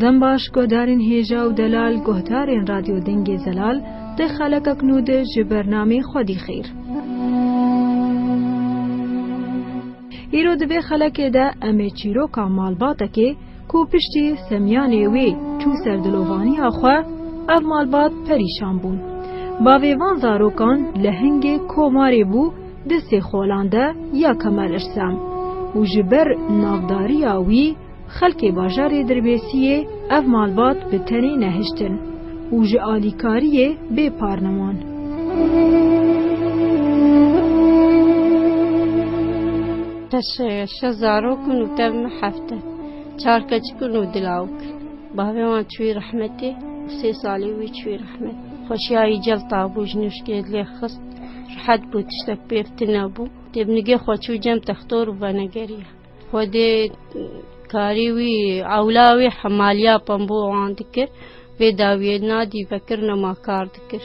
Dem baş guhdarên hêja û delal guhdarên radyo dengê zelal di xeleka ku nû de ji bernamê xwedî xêr. Îro di vê xelekê de em ê çîroka malbatekê Ku piştî semyanê wê çû ser dilovaniya xwe, ev malbat perîşan bûn. Bavê van zarokan li hingê komarê bû di Sêxolan de ya Kemal Irsam û ji ber navdariya wî xelkê bajarê Dirbêsiyê ev malbat bi tenê nehiştin û ji alîkariyê bê par neman. Te şeş zarok in û tev min heft e. Çar keçik in û du lawik. Bavê wan çûyî rehmetê û sê salî wî çûyî rehmetê. Xweşiyayî celta bû, ji nûşkê lê xist. Rehet bû, tiştek pêv tune bû. Dê bi nigê xwe çû cem textor û venegeriya. Xwedê karî wî, ewla wî hemaliya pembû wan dikir. Vê dawiyê nadî vekir nema kar dikir.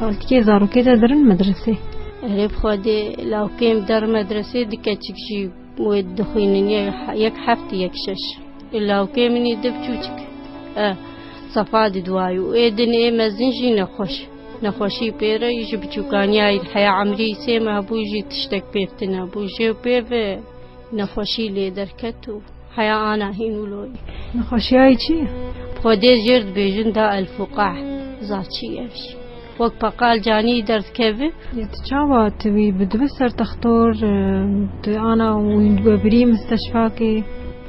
Xaltikê zarokê de dirin medresê. Erê bixwedê lawkêm der medresê di keçik jî wê dixwînin yek heft yek şeş. E lawkê min ê di biçûçik. E sefa di duwayû. Ê din ê mezin jî nexweş. Nexweşî pê re ji biçûkaniyayî heya emrî sê me hebû jî tiştek pêv tine bû. Jê pêv Nexweşî lê derket û heya ana hîn û lolî. Nexweşiyayê çi ye? Xwedê jêr dibêjin da el fuqah. Zaçî ev jî. Wek peqal canî derdikeve. Yê tu çawa tu wî bi dibe ser textor tu ana wî dibe birî misteşfakê.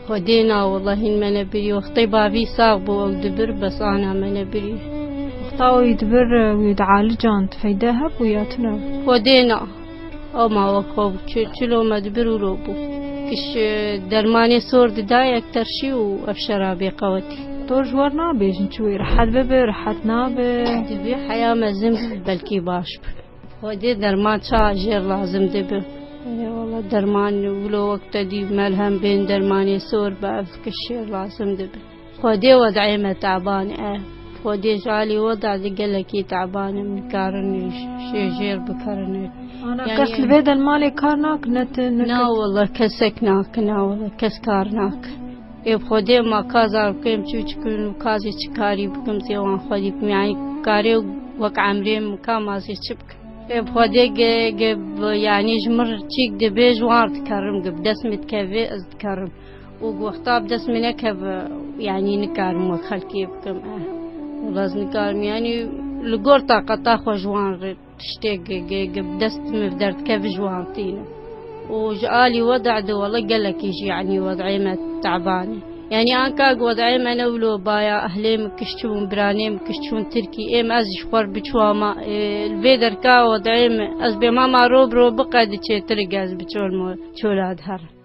Xwedê na wela hîn me ne birî. Wextê bavî sax bû ew dibir bes ana me ne birî. Wexta wî dibir wî dialican tu feyde hebû ya tune? Xwedê na. O mawa xo bû çi çilo me di bir ûro bû. Kiş dermanê sor di da yek terşî û ev şerabê qewetî. To ji wan nabêjin çi wê rehet bibe rehet nabe. Divê heya mezin bibe belkî baş bibe. Xwedê derman ça jêr lazim dibe. Erê wala derman wilo wek te dî melhem bên dermanê sor be ev kiş jêr lazim dibe. Xwedê wed'ê me te'ban e. Xwedê ji alî wed' de gelekî te'ban im. Nikarin şêjêr bikirin. Ana kes li vê de li malê kar nakin ne tu ne kes? Na wele kesek nakin na wele kes kar nakin. Ê bi xwedê ma ka zar bikim çûçik in û ka zî çi karî bikim zî wan xwedî bikim yanî karê wek emrê min ka ma zî çi bikim. Ê bi xwedê ge yanî ji min re çîk dibê ji wan re dikerim ge bi dest min dikevê ez dikerim. û goxta bi dest min nekeve yanî nikarim wek xelkê bikim eh wela ez nikarim yanî li gor taqeta xwe ji wan re tiştê bi dest min bi derdkevin ji wan tînim û ji alî wede de wela gelekî jî yanî wedeyê me teban e yanî anka ku wedeyê me ne wilo baya ehlê min kişt çûbûn biranê min kişt çûn tirkî ê min ez jî ji xwe re biçû ma li vê derka wedeyê min ez bêhma ma rû bi rû biqe diçê tirik ez bi çol ma çola diherim.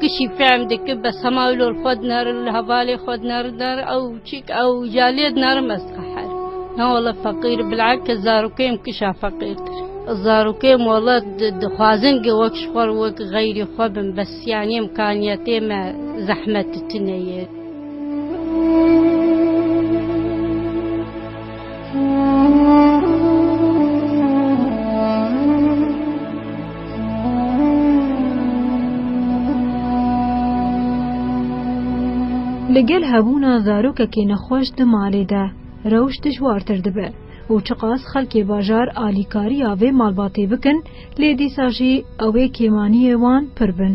Kişî fehm dike be sema lor xwe dinarin li hevalê xwe dinarin dar ew çik ew jaliyê dinarim ez dixwe her na wala feqîr bilake zarokeyim kişa feqîrtir zarokeyim wala dixwazin ge wek ji xwe wek xeyrî xwe bin bes yanî imkaniyetê me zehmet tune ye. Li gel hebûna zarokekî nexweş di malê de rewş dijwartir dibe û çiqas xelkê bajar alîkariya vê malbatê bikin lê dîsa jî ew ê kêmaniyê wan pir bin.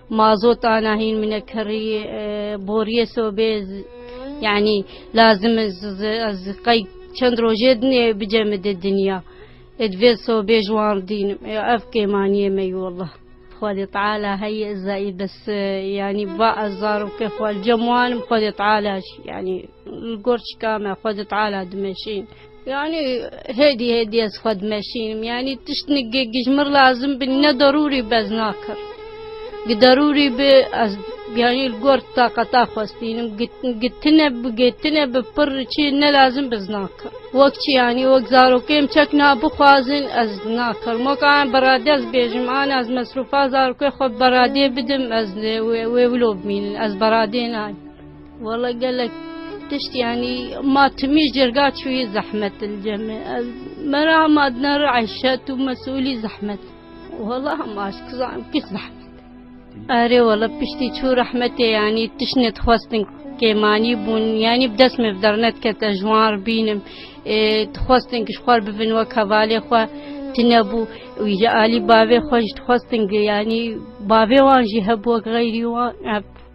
Mazot ana hîn mine kerî boriyê sobê yanî lazim ez qey çend rojê dinê bice min de dinya. Ed vê sobê ji wan dînim. Ev kêmaniyê me yû wallah. Xwedê Teala heyê ez zayî bes yanî va ez zaroke xwe li cem wan im Xwedê Teala jî yanî Li gor çika me xwe di Teala dimeşîn. Yanî hêdî hêdî ez xwe dimeşînim. Yanî tişt nigê gijmir lazim bi ne derûrî bi ez nakir. Gi derûrî bi ez yanî li gor taqeta xwe stînim. Gi tine bi gê tine bi pir çi ne lazim bi ez nakir. Wek çi yanî wek zarokêm çek na bixwazin ez nakir. Weka em beradê ez bêjim an ez mesrûfa zarokê xwe beradê bidim ez wê wê wilo bimînin ez beradê nayim. Wala gelek tişt yanî ma timî jirga çûyî zehmet dilcemê ez me re hema dina re eşet û mesulî zehmet wala hema ez kizanim pîs zehmet erê wala piştî çû rehmetê yanî tiş nedixwestin kêmanî bûn yanî bi dest me bi dernedkete ji wan re bînim dixwestin ji xwe re bibin wek hevalê xwe tinebû wî ji alî bavê xwe jî dixwestin yanî bavê wan jî hebû wek xeyrî wan hebû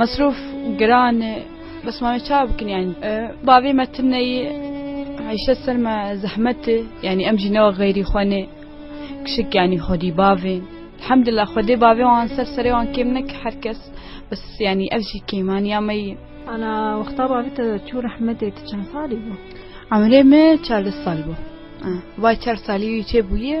Mesrûf giran e, bes ma wê ça bikin yani. Bavê me tine yê, eyşe ser me zehmet e. Yani em jî newe xeyrî xwe nê. Kişik yani xwedî bavê. Elhamdulillah xwedê bavê wan ser serê wan kêm neke her kes. Bes yani ev jî kêmaniya me yê. Ana wexta bavê te çû rehmetê tu çend salî bû? Emrê me çardeh sal bû. Vay çar salî wî çêbûye.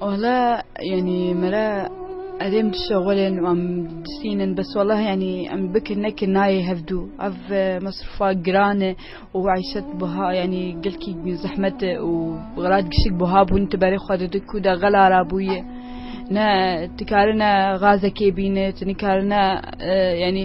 Wala yanî me re erê min dişexulin wan disînin bes wala yanî em bikin nekin nayê hevdû ev e, mesrufa giran e û eyşet buha yanî gelkî zehmet e û xelat gişik buha bûn tu berê xwe dide kû de xela ra bûye ne tu karine xazekê bîne tu nikari ne e, yanî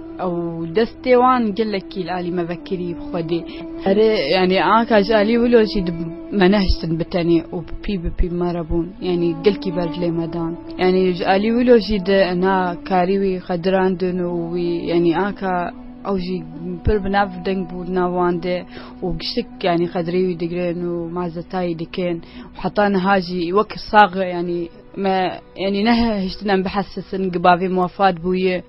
Ew destê wan gelekî li alî me vekirî bi Xwedê. Erê yanî anka ji alî wilo jî di me nehiştin bi tenê û bi pî bi pî bi me re bûn. Yanî gelkî berdilê me dan. Yanî ji alî wilo jî di na karî wî xedirandin û wî yanî anka ew jî pir bi nav deng bû di nav wan de û giştik yanî xedirê wî digirin û mazetayî dikin û heta niha jî wek sax yanî me yanî nehiştin em bihesesin gi bavê me wefat bûye.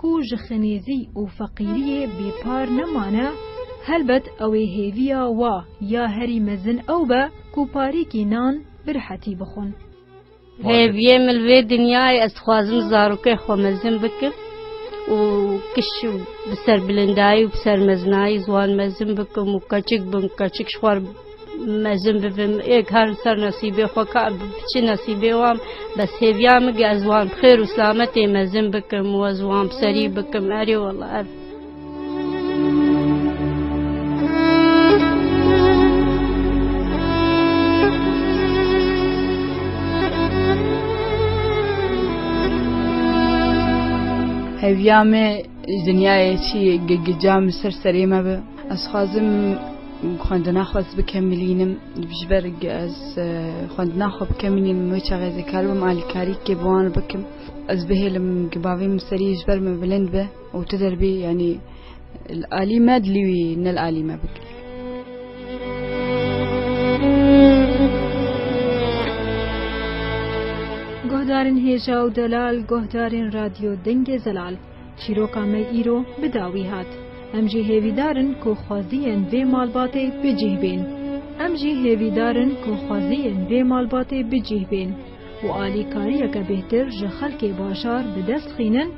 ku ji xinêzî û feqîriyê bêpar nemane, helbet ew ê hêviya wa ya herî mezin ew be ku parêkî nan bi rihetî bixwin. Hêviyê min li vê dinyayê ez dixwazim zarokên xwe mezin bikim û kiş bi serbilindayî û bi sermezinayî ziwan mezin bikim û keçik bin, keçik ji xwe re. Mezin bibim ê karin ser nesîbê xwe ka çi nesîbê wan bes hêviya min ke ez wan bi xêr û silametê mezin bikim û ez wan bi serî bikim erê wela ev Hêviya me dinyayê çi ye gica min ser serê me be. Ez xwazim xwendina xwe ez bikemilînim ji ber ku ez xwendina xwe bikemilînim wê çaxê ez ê karibim alîkarîkê bi wan re bikim ez bihêlim ku bavê min serî ji ber min bilind be û tu derbî yanî li alî me dilî wî ne li alî me bike. Guhdarên hêja û delal, guhdarên radyo dengê zelal. Çîroka me îro bi dawî hat. Em jî hêvîdar in ku xweziyên vê malbatê bi cih bên. Em jî hêvîdar in ku xweziyên vê malbatê bi cih bên û alîkariyeke bêhtir ji xelkê bajar bi dest xînin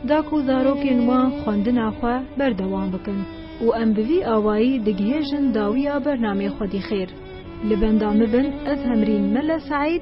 da ku zarokên wan xwendina xwe berdewam bikin û em bi vî awayî digihêjin dawiya bernamê Xwedî Xêr. Li benda min bin ez Hemrîn Mele Seîd.